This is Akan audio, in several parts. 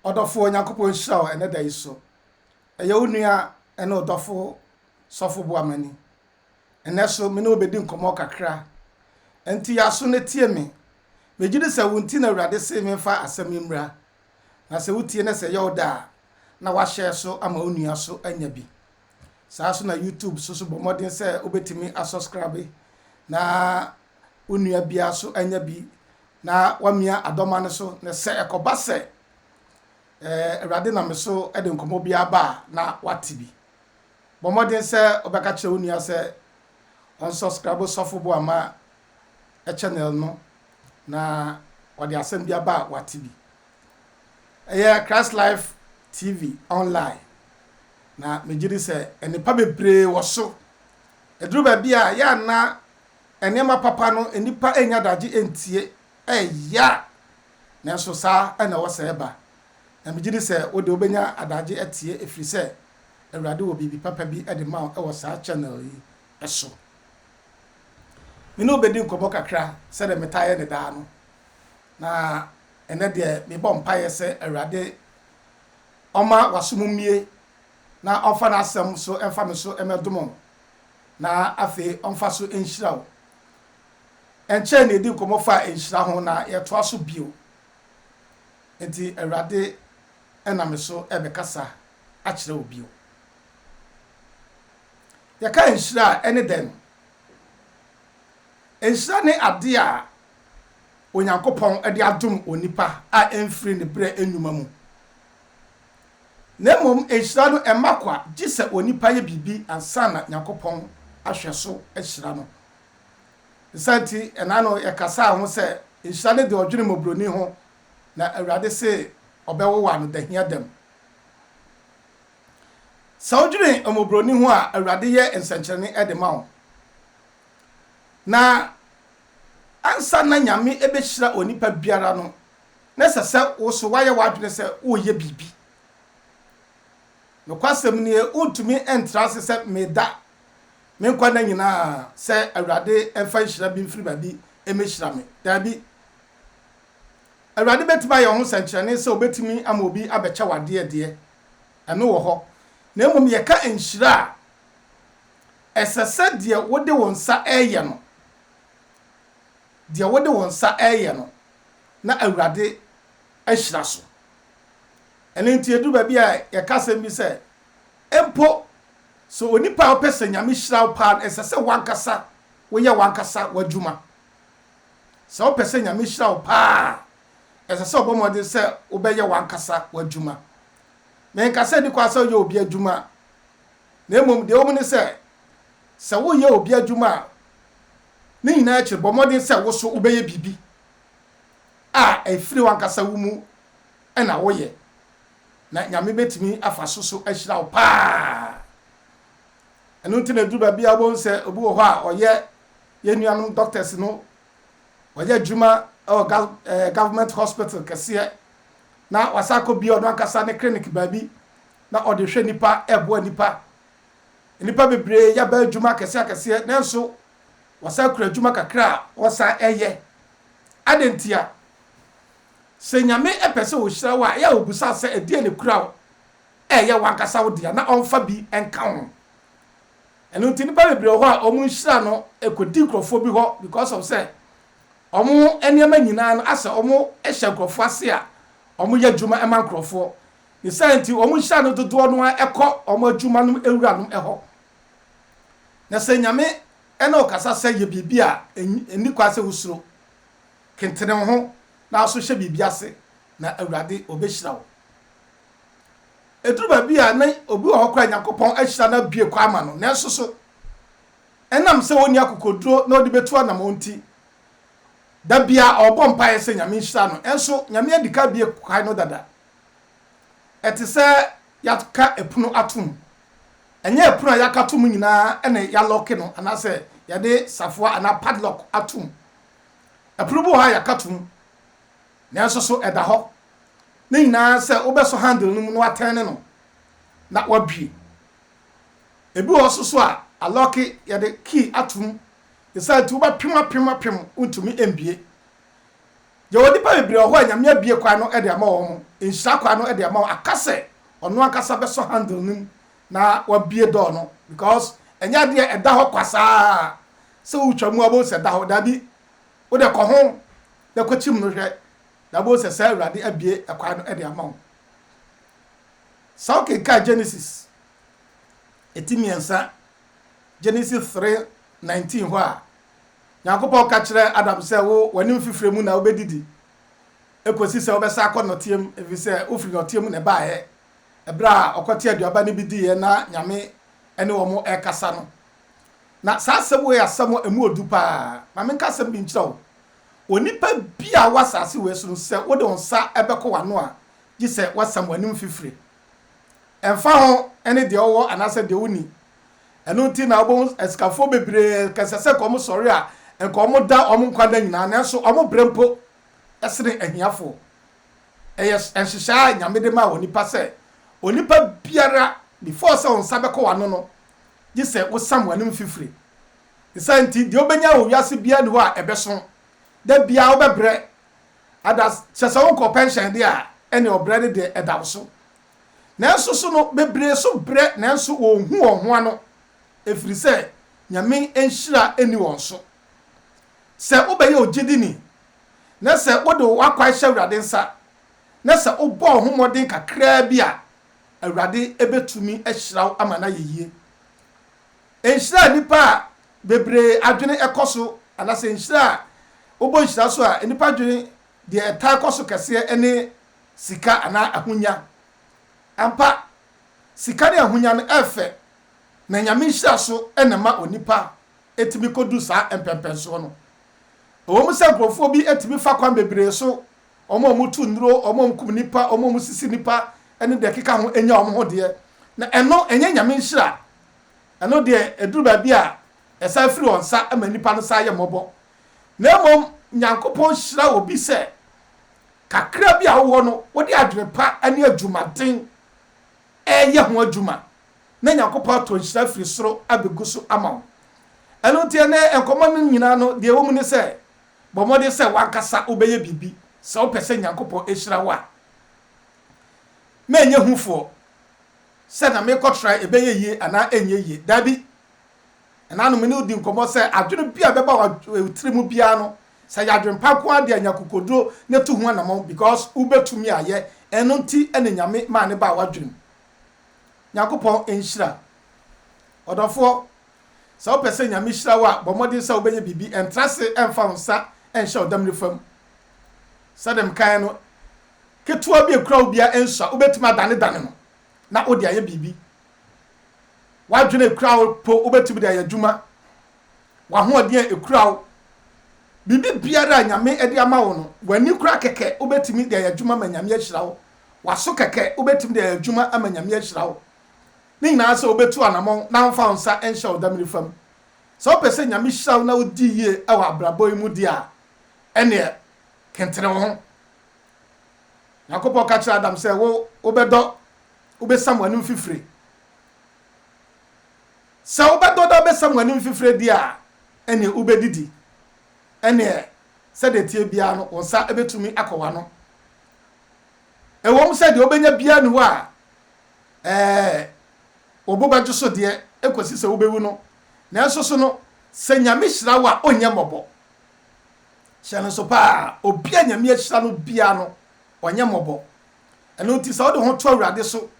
Ɔdɔfoɔ, Nyankopɔn nhyira wo ɛnɛ da yi so. Ɛyɛ wo nua ɛne ɔdɔfo Sɔfo Boamani. Ɛnɛ so, me ne wo bɛdi nkɔmmɔ kakra. Ɛnti yɛaso na tie me. Megye di sɛ wo nti na Awurade see memfa asɛm yi mmra. Na sɛ wotie na sɛ ɛyɛ wo dɛ a, na woahyɛɛ so ama wo nua so anya bi. Saa so na YouTube so so bɔ mmɔden sɛ wobɛtumi asɔskrabe na wo nua biara so anya bi na wamia adɔma no so, na sɛ ɛkɔba sɛ Awurade nam me so de nkɔmmɔ biara ba a, na wate bi. Bɔ mmɔden sɛ wobɛka kyerɛ wo nua sɛ ɔnsɔskrabo Sɔfo Boama channel no na ɔde asɛm bi aba a wate bi. Ɛyɛ Christ Life TV online, na megye di sɛ nnipa bebree wɔ so. Ɛduru baabi a yɛ a na nneɛma papa no nnipa nnya adagye ntie, ɛyɛ a, nanso saa na ɛwɔ sɛ ɛba. Na migye di sɛ wo de wobenya adagye atie ɛfiri sɛ Awurade wɔ biribi papa bi de ma wo wɔ saa channel yi so. Me ne wo bɛdi nkɔmmɔ kakra sɛdeɛ metaa yɛ no daa no, na ɛnɛ deɛ mebɔ mpaeɛ sɛ Awurade ɔma w'aso mu mmue na ɔmfa n'asɛm nso mfa me so mmɛdom na afei ɔmfa so nhyira wo. Ɛnkyɛe na yɛdi nkɔmmɔ faa nhyira ho na yɛtoa so bio. Enti Awurade nam me so rebɛkasa akyerɛ wo bio. Yɛka nhyira a, ɛne dɛn? Nhyira ne ade a Onyankopɔn de adom onipa a ɛmfiri ne berɛ nnwuma mu. na mmom nhyira no mma kwa gye sɛ onipa yɛ biribi ansa na Nyankopɔn ahwɛ so ahyira no. Ne saa nti, ɛna ano yɛkasaa ho sɛ, nhyira no de ɔdwene mmɔborɔni ho, na Awurade se ɔbɛwowa no dahia dam. Sɛ wodwene mmɔborɔni ho a, Awurade yɛ nsɛnkyerɛnne de ma wo. Na ansa na Nyame ɛbɛhyira onipa biara no, na ɛsɛ sɛ wo nso woayɛ w'adwene sɛ woreyɛ biribi. Nokwasɛm ni, wuntumi ntra ase sɛ meda me nkwa nna nyinaa sɛ Awurade mfa nhyira bi mfiri baabi mmehyira me. Dabi. Awurade betumi ayɛ ho sɛnkyerɛnne sɛ obetumi ama obi abɛkyɛ wo adeɛ deɛ, ɛno wɔ hɔ. Na mmom yɛka nhyira a, ɛsɛ sɛ deɛ wode wo nsa reyɛ no, deɛ wode wo nsa reyɛ no, na Awurade ahyira so. Ɛno nti, ɛduru baabi a yɛka asɛm bi sɛ, mpo sɛ onipa a ɔpɛ sɛ Nyame hyira wo paa no, ɛsɛ sɛ wankasa woyɛ wankasa w'adwuma. Sɛ wopɛ sɛ Nyame hyira wo paa a, ɛsɛ sɛ ɔbɔ mmɔden sɛ wobɛyɛ wankasa w'adwuma. Menka sɛ ɛdi kwa sɛ woyɛ obi adwuma, na mmom deɛ ɛwɔ mu ne sɛ, sɛ woyɛ obi adwuma a, Ne nyinaa akyi no, bɔ mmɔden sɛ wo nso wobɛyɛ biribi a ɛfiri w'ankasa wo mu na woyɛ, na Nyame bɛtumi afa so so ahyira wo pa ara. Ɛno nti na ɛduru baabi a wobɛhu sɛ obi wɔ hɔ a ɔyɛ yɛn nuanom doctors no, ɔyɛ adwuma wɔ government hospital kɛseɛ, na wasan akɔbie ɔno ankasa ne clinic baabi na ɔde hwɛ nnipa, ɛboa nnipa. Nnipa bebree yɛ baa adwuma akɛseɛ akɛseɛ nanso wɔsan kura adwuma kakra a wɔsan yɛ. Adɛn ntia? Sɛ Nyame pɛ sɛ ɔhyira wo a, ɛyɛ a ɔbisa sɛ ɛdeɛn na ɛkura wo a ɛyɛ w'ankasa wo dea na ɔmfa bi nka ho. Ɛno nti nnipa bebree wɔ hɔ a wɔn nhyira no ɛkɔdi nkurɔfoɔ bi hɔ because of sɛ wɔn nneɛma nyinaa no asɛ wɔhyɛ nkurɔfoɔ ase a wɔyɛ adwuma ma nkurɔfoɔ. Ne saa nti, wɔn nhyira no dodoɔ no ara kɔ wɔn adwuma nom awuranom hɔ. Na sɛ Nyame ne wo kasa sɛ yɛ biribi a, nni kwan sɛ wosuro. Kentene wo ho na so hyɛ biribi ase na Awurade ɔbɛhyira wo. Ɛduru baabi a na obi wɔ hɔ koraa Nyankopɔn ahyira no abue kwan ama no, nanso so ɛnam sɛ ɔnni akokoduro na ɔde bɛtu anamɔn nti, da biara ɔrebɔ mpaeɛ sɛ Nyame nhyira no, ɛnso Nyame adi kan abue kwan no dada. Ɛte sɛ yɛaka pono atom. Ɛnyɛ pono a yɛaka atom nyinaa na yɛalɔke no anaasɛ yɛde safoa anaa padlock atom. Pono bi wɔ hɔ a yɛaka atom, nanso so ɛda hɔ. Ne nyinaa sɛ wobɛsɔ handle no mu na watɛne no na wabue. Ebi wɔ hɔ nso so a alɔke, yɛde key atom. Esiane nti wobɛpem apem apem wontumi mbue. Yɛwɔ nnipa bebree wɔ hɔ a Nyame abue kwan no de ama wɔn, nhyira kwan no de ama wɔn, aka sɛ ɔno ankasa bɛsɔ handle no mu na wabue door no because ɛnyɛ adeɛ a ɛda hɔ kwa saa sɛ wotwa mu a wobɛhu sɛ ɛda hɔ, daabi, wode kɔ ho na kɔkyim no hwɛ na wobɛhu sɛ saa Awurade abue kwan no de ama wo. Sɛ wokenkan Genesis ɛti mmiɛnsa, Genesis 3:19 hɔ a, Nyankopɔn ka kyerɛɛ Adam sɛ, Wo, w'anim fifire mu na wobɛdidi ɛkɔsi sɛ wobɛsan akɔ nnɔteɛ mu, ɛfiri sɛ wofiri nnɔteɛ mu na ɛbaeɛ. Ɛberɛ a ɔkɔtee aduaba no bi diiɛ na Nyame ne wɔn rekasa no, na saa asɛm wei yɛ asɛm a ɛmu ɔdu pa ara. Ma menka asɛm bi nkyerɛ wo, onipa biara a ɔwɔ asase wei so no, sɛ wode wo nsa bɛkɔ w'ano a, gye sɛ woasam w'anim fifire. Ɛmfa ho ne deɛ wowɔ anaasɛ deɛ wonni, Ɛno nti na wobɛhu asikafoɔ bebree kɛsɛ sɛ nka wɔsɔre a nka wɔda wɔn nkwa nna nyinaa nanso wɔn berɛ mpo sene ahiafoɔ. Ɛyɛ nhyehyɛe a Nyame de maa onipa sɛ onipa biara before sɛ wo nsa bɛkɔ w'ano no gye sɛ wosam w'anom fifire. Ne saa nti deɛ wobɛnya wɔ wiase biara nni hɔ a ɛbɛso. Da biara wobɛbrɛ ada kyerɛ sɛ wonkɔɔ pɛnhyɛn deɛ a ɛne ɔbrɛ no deɛ ɛda wo so. Nanso so no, bebree so brɛ nanso wɔnhu wɔn ho ano ɛfiri sɛ Nyame nhyira nni wɔn so. Sɛ wobɛyɛ ogyedini na sɛ wode w'akwan hyɛ Awurade nsa na sɛ wobɔ wo ho mmɔden kakraa bi a, Awurade bɛtumi ahyira wo ama no ayɛ yie. Nhyira a nnipa a bebree adwene kɔ so anasɛ nhyira a wobɔ nhyira so a nnipa dwene Deɛ ɛtaa kɔ so kɛseɛ ne sika anaa ahonya. Ampa, sika ne ahonya no yɛ fɛ, na Nyame nhyira so na ɛma onipa tumi kɔdu saa mpɛnpɛnsoɔ no. Ɛwɔ mu sɛ nkorɔfoɔ bi tumi fa kwan bebree so, wɔn a wɔtu nnuro, wɔn a wɔkum nnipa, wɔn a wɔsisi nnipa, ne deɛ ɛkeka ho nya wɔn ho deɛ, na ɛno ɛnyɛ Nyame nhyira. Ɛno deɛ ɛduru baabi a, ɛsan firi wɔn nsa ma nnipa no san yɛ mmɔbɔ, na mmom Nyankopɔn hyira obi sɛ kakra bi a wowɔ no wode adwene pa ne adwumaden reyɛ ho adwuma na Nyankopɔn atɔ nhyira firi soro abɛgu so ama wo. Ɛno nti ɛnɛ nkɔmmɔ no nyinaa no deɛ ɛwɔ mu ne sɛ bɔ mmɔden sɛ wankasa wobɛyɛ biribi sɛ wopɛ sɛ Nyankopɔn ɛhyira wo a mɛnyɛ hufoɔ sɛ na mekɔtra ɛbɛyɛ yie anaa ɛnyɛ yie, daabi. Ɛnã no, me ne wo di nkɔmmɔ sɛ adwene bi a ɛbɛba wo tiri mu biara no, sɛ ɛyɛ adwempa nko ara de a, nya akokoduro na tu ho anammɔn because wobɛtumi ayɛ. Ɛno nti na Nyame maa no baa w'adwene mu. Nyankopɔn nhyira wo. Ɔdɔfoɔ, sɛ wopɛ sɛ Nyame hyira wo a, bɔ mmɔden sɛ wobɛyɛ biribi. Ɛntra ase ɛmfa wo nsa ɛnhyɛ ɔdam nifa mu. Sɛdeɛ mekaeɛ no, ketewa bi a ɛkura wo biara ɛnsua, wobɛtumi adanedane no na wode ayɛ biribi. W'adwene a ekura wo mpo, wobɛtumi de ayɛ adwuma. W'ahoɔden a ekura wo, biribi biara a Nyame de ama wo no, w'ani kora kɛkɛ, wobɛtumi de ayɛ adwuma ma Nyame ahyira wo. W'aso kɛkɛ, wobɛtumi de ayɛ adwuma ama Nyame ahyira wo. Ne nyinaa sɛ wobɛtu anamɔn na womfa wo nsa nhyɛ wo dam nifa mu. Sɛ wopɛ sɛ Nyame hyira wo na wodi yie wɔ abrabɔ yi mu deɛ a, ɛneɛ kentene wo ho. Nyankopɔn ka kyerɛɛ Adam sɛ, Wo, wobɛdɔ. wobesam w'anom fifire. Sɛ wobɛdɔ dɛ wobesam w'anom fifire deɛ a, ɛnneɛ wobedidi. Ɛnneɛ, sɛdeɛ ɛteɛ biara no, wo nsa betumi akɔ w'ano. Ɛwom sɛ deɛ wobenya biara nni hɔ a ɛɛ wo bo bɛdwo so deɛ ekosi sɛ wubewu no, nanso so no, sɛ Nyame hyira wo a, ɔnyɛ mmɔbɔ. Hyɛ no nso paa, obi a Nyame ahyira no biara no, ɔnyɛ mmɔbɔ. Ɛno nti sɛ wode ho to Awurade so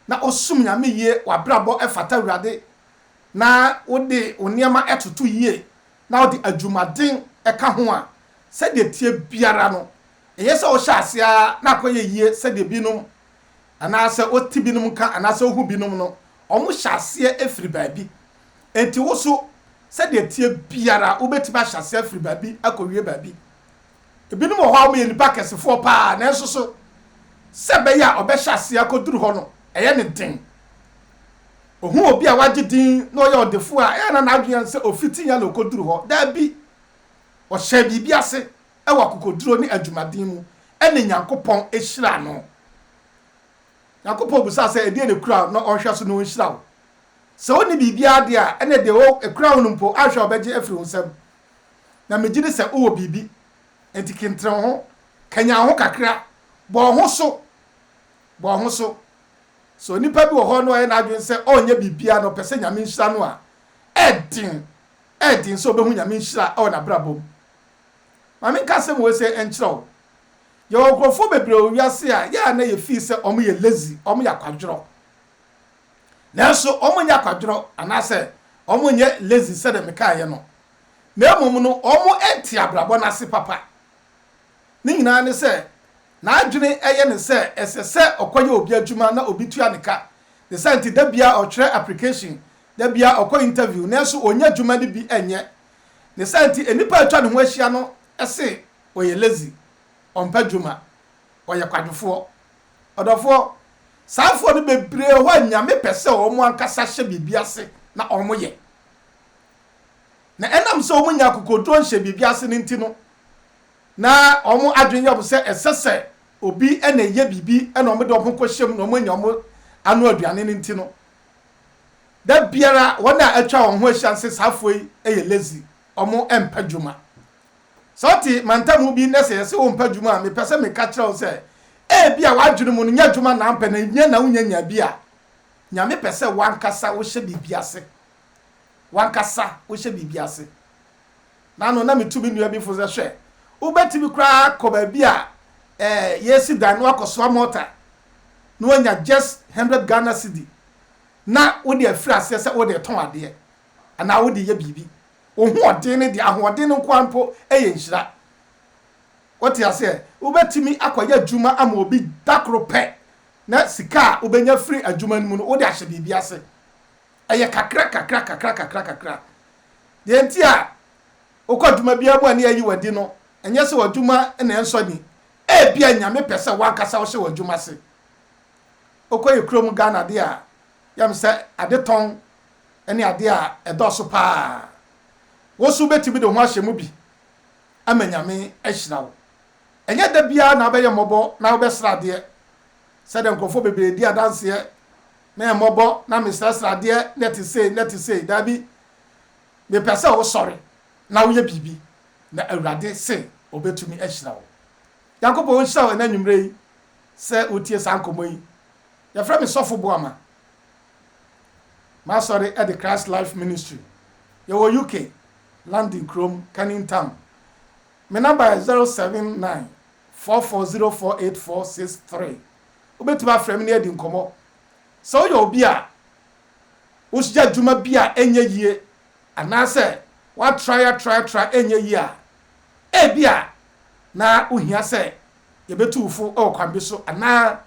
na wosom Nyame yie, w'abrabɔ fata Awurade, na wode wo nneɛma toto yie, na wode adwumaden ka ho a, sɛdeɛ ɛteɛ biara no, ɛyɛ sɛ wohyɛ aseɛ ara na akɔyɛ yie sɛdeɛ binom, anaasɛ wote binom nka, anaasɛ wohu binom no, wɔhyɛ aseɛ firi baabi. Enti wo nso, sɛdeɛ ɛteɛ biara, wobɛtumi ahyɛ aseɛ afiri baabi akɔwie baabi. Ebinom wɔ hɔ a wɔyɛ nnipa akɛsefoɔ pa ara, nanso so sɛ ɛbɛyɛ a ɔbɛhyɛ aseɛ akɔduru hɔ no, ɛyɛ no den? Ɔhu obi a wagye din na ɔyɛ ɔdefoɔ a, ɛyɛ na n'adwene yɛ no sɛ ɔfiti yɛn na ɔkɔduru hɔ? Dabi. Ɔhyɛɛ biribi ase wɔ akokoɔduro ne adwumaden mu, ɛnna Nyankopɔn hyiraa no. Nyankopɔn bisaa sɛ, Ɛdeɛn na ɛkura wo na ɔnhwɛ so na ɔnhyira wo? Sɛ wonni biribiara deɛ a, ɛnneɛ deɛ ɛkura wo no mpo, anhwɛ a ɔbɛgye afiri wo nsam. na megye di sɛ wowɔ biribi. Enti kentene wo ho, kanyan wo ho kakra, bɔ wo ho so, bɔ wo ho so. Sɛ onipa bi wɔ hɔ na wayɛ n'adwene sɛ ɔrenyɛ biribiara na ɔpɛ sɛ Nyame nhyira no a, ɛyɛ den, ɛyɛ den sɛ ɔbɛhu Nyame nhyira wɔ n'abrabɔ mu. Ma menka asɛm wei sɛ ɛnkyerɛ wo, yɛwɔ nkurɔfoɔ bebree wɔ wiase a yɛ a na yɛfii sɛ wɔyɛ lazy, wɔyɛ akwadworɔ. nanso wɔnyɛ akwadworɔ anaasɛ wɔnyɛ lazy sɛdeɛ mekaeɛ no, na mmom no wɔnte abrabɔ no ase papa. Ne nyinaa ne sɛ, n'adwene yɛ no sɛ ɛsɛ sɛ ɔkɔyɛ obi adwuma na obi tua ne ka. Ne saa nti, da biara ɔtwerɛ application, da biara ɔkɔ interview, nanso ɔnnya adwuma no bi nyɛ. Ne saa nti, nnipa a atwa ne ho ahyia no se ɔyɛ lazy, ɔmpɛ adwuma, ɔyɛ kwadwofoɔ. Ɔdɔfoɔ, saa foɔ no bebree hɔ a Nyame pɛ sɛ wɔn ankasa hyɛ biribi ase na wɔn yɛ. Na ɛnam sɛ wɔn nya akokoɔduro nhyɛ biribi ase no nti no, na wɔn adwene yɛ wɔn sɛ ɛsɛ sɛ obi na ɛyɛ biribi na wɔn de wɔn ho kɔ hyɛ mu na wɔn anya wɔn ano aduane no nti no, da biara wɔn a atwa wɔn ho ahyia no sɛ saa foɔ yi yɛ lazy, wɔn mpɛ dwuma. Sɛ ɔte mantamu bi na sɛ yɛse wo mpɛ adwuma a, mepɛ sɛ meka kyerɛ wo sɛ ebia w'adwene mu no nyɛ adwuma na ampɛ na ehia na wonya nya bi a, Nyame pɛ sɛ w'ankasa wohyɛ biribi ase. W'ankasa wohyɛ biribi ase. Na ano na metu me nua bi fo sɛ hwɛ, wobɛtumi koraa akɔ baabi a eh, yɛresi dan na wakɔsoa mɔta na wanya just hundred Ghana cedi na wode afiri aseɛ sɛ wode retɔn adeɛ anaa wode reyɛ biribi. Wo hoɔden no deɛ, ahoɔden no nko ara mpo yɛ nhyira. Wote aseɛ? Wobɛtumi akɔyɛ adwuma ama obi da koro pɛ, na sika a wobɛnya firi adwuma no mu no, wode ahyɛ biribi ase. Ɛyɛ kakra kakra kakra kakra kakra. Deɛ nti a wokɔ adwuma biara mu a ne yɛayi wo adi no, ɛnyɛ sɛ w'adwuma na ɛnsɔ ani. Ebia Nyame pɛ sɛ w'ankasa wohyɛ w'adwuma ase. Wokɔyɛ kurom Ghana deɛ a, yam sɛ adetɔn ne ade a ɛdɔɔso paa. Wo nso wubetumi de wo ho ahyɛ mu bi ama Nyame ahyira wo. Ɛnyɛ da biara na wobɛyɛ mmɔbɔ na wobɛsrɛ adeɛ sɛdeɛ nkurɔfoɔ bebree di adanseɛ, na ɛyɛ mmɔbɔ na mesrɛsrɛ adeɛ na ɛte sei na ɛte sei. Daabi, mepɛ sɛ wosɔre na woyɛ biribi, na Awurade se Ɔbɛtumi ahyira wo. Nyankopɔn nhyira wo ɛnnɛ anwummerɛ yi sɛ wotie saa nkɔmmɔ yi. Yɛfrɛ me Sɔfo Boama. M'asɔre de Christ Life Ministry. Yɛwɔ UK, London kurom, Canning Town. Me namba yɛ 079 44048463. Wobɛtumi afrɛ me ne adi nkɔmmɔ. Sɛ woyɛ obi a woyɛ adwuma bi a ɛnyɛ yie anaasɛ woatrae atrae atrae ɛnyɛ yie a, ebia na wohia sɛ yɛbɛtu wo fo wɔ kwan bi so anaa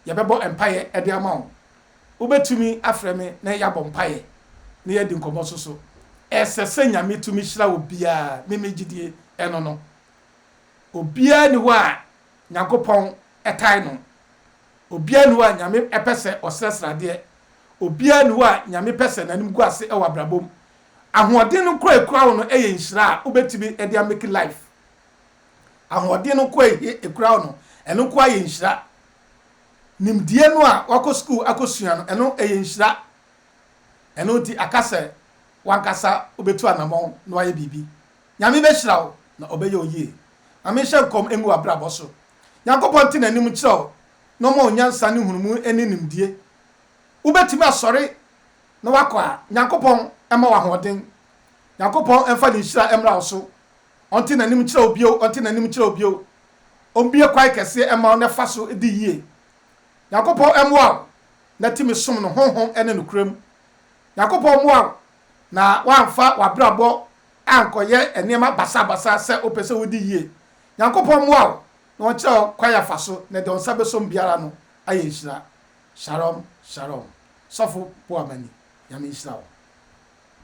yɛbɛbɔ mpaeɛ de ama wo. Wobɛtumi afrɛ me na yɛabɔ mpaeɛ na yɛadi nkɔmmɔ nso so. Ɛsɛ sɛ Nyame tumi hyira obiara ne ne gyidie ɛno no. Obiara nni hɔ a Nyankopɔn tae no. Obiara nni hɔ a Nyame pɛ sɛ ɔsrɛ sradeɛ. Obiara nni hɔ a Nyame pɛ sɛ n'anim gu ase wɔ abrabɔ mu. Ahoɔden no koraa ɛkura wo no yɛ nhyira a wobɛtumi de amake life ahoɔden no nko a ehia ekura wo no, ɛno nko ara yɛ nhyira. Nimdeɛ no a wakɔ sukuu akɔsua no, ɛno ɛyɛ nhyira. Ɛno nti aka sɛ wankasa wobɛtu anammɔn na wayɛ biribi. Nyame bɛhyira wo na ɔbɛyɛ wo yie. Ma menhyɛ nkɔm ngu w'abrabɔ so. Nyankopɔn nte n'anim nkyerɛ wo na ɔma wo nyansa ne nhunumu ne nimdeɛ. Wobɛtumi asɔre na wakɔ a, Nyankopɔn mma wo ahoɔden. Nyankopɔn mfa ne nhyira mmra wo so Ɔnte n'anim nkyerɛ wo bio, ɔnte n'anim nkyerɛ wo bio. Ɔmmue kwan kɛseɛ mma wo na fa so di yie. Nyankopɔn mmoa wo na tumi som no honhom ne nokorɛ mu. Nyankopɔn mmoa wo na woamfa w'abrabɔ ankɔyɛ nneɛma basabasa sɛ wopɛ sɛ wodi yie. Nyankopɔn mmoa wo na ɔnkyerɛ wo kwan afa so na deɛ wo nsa bɛsɔm biara no ayɛ nhyira. Shalom Shalom. Sɔfo Boamani. Nyame nhyira wo.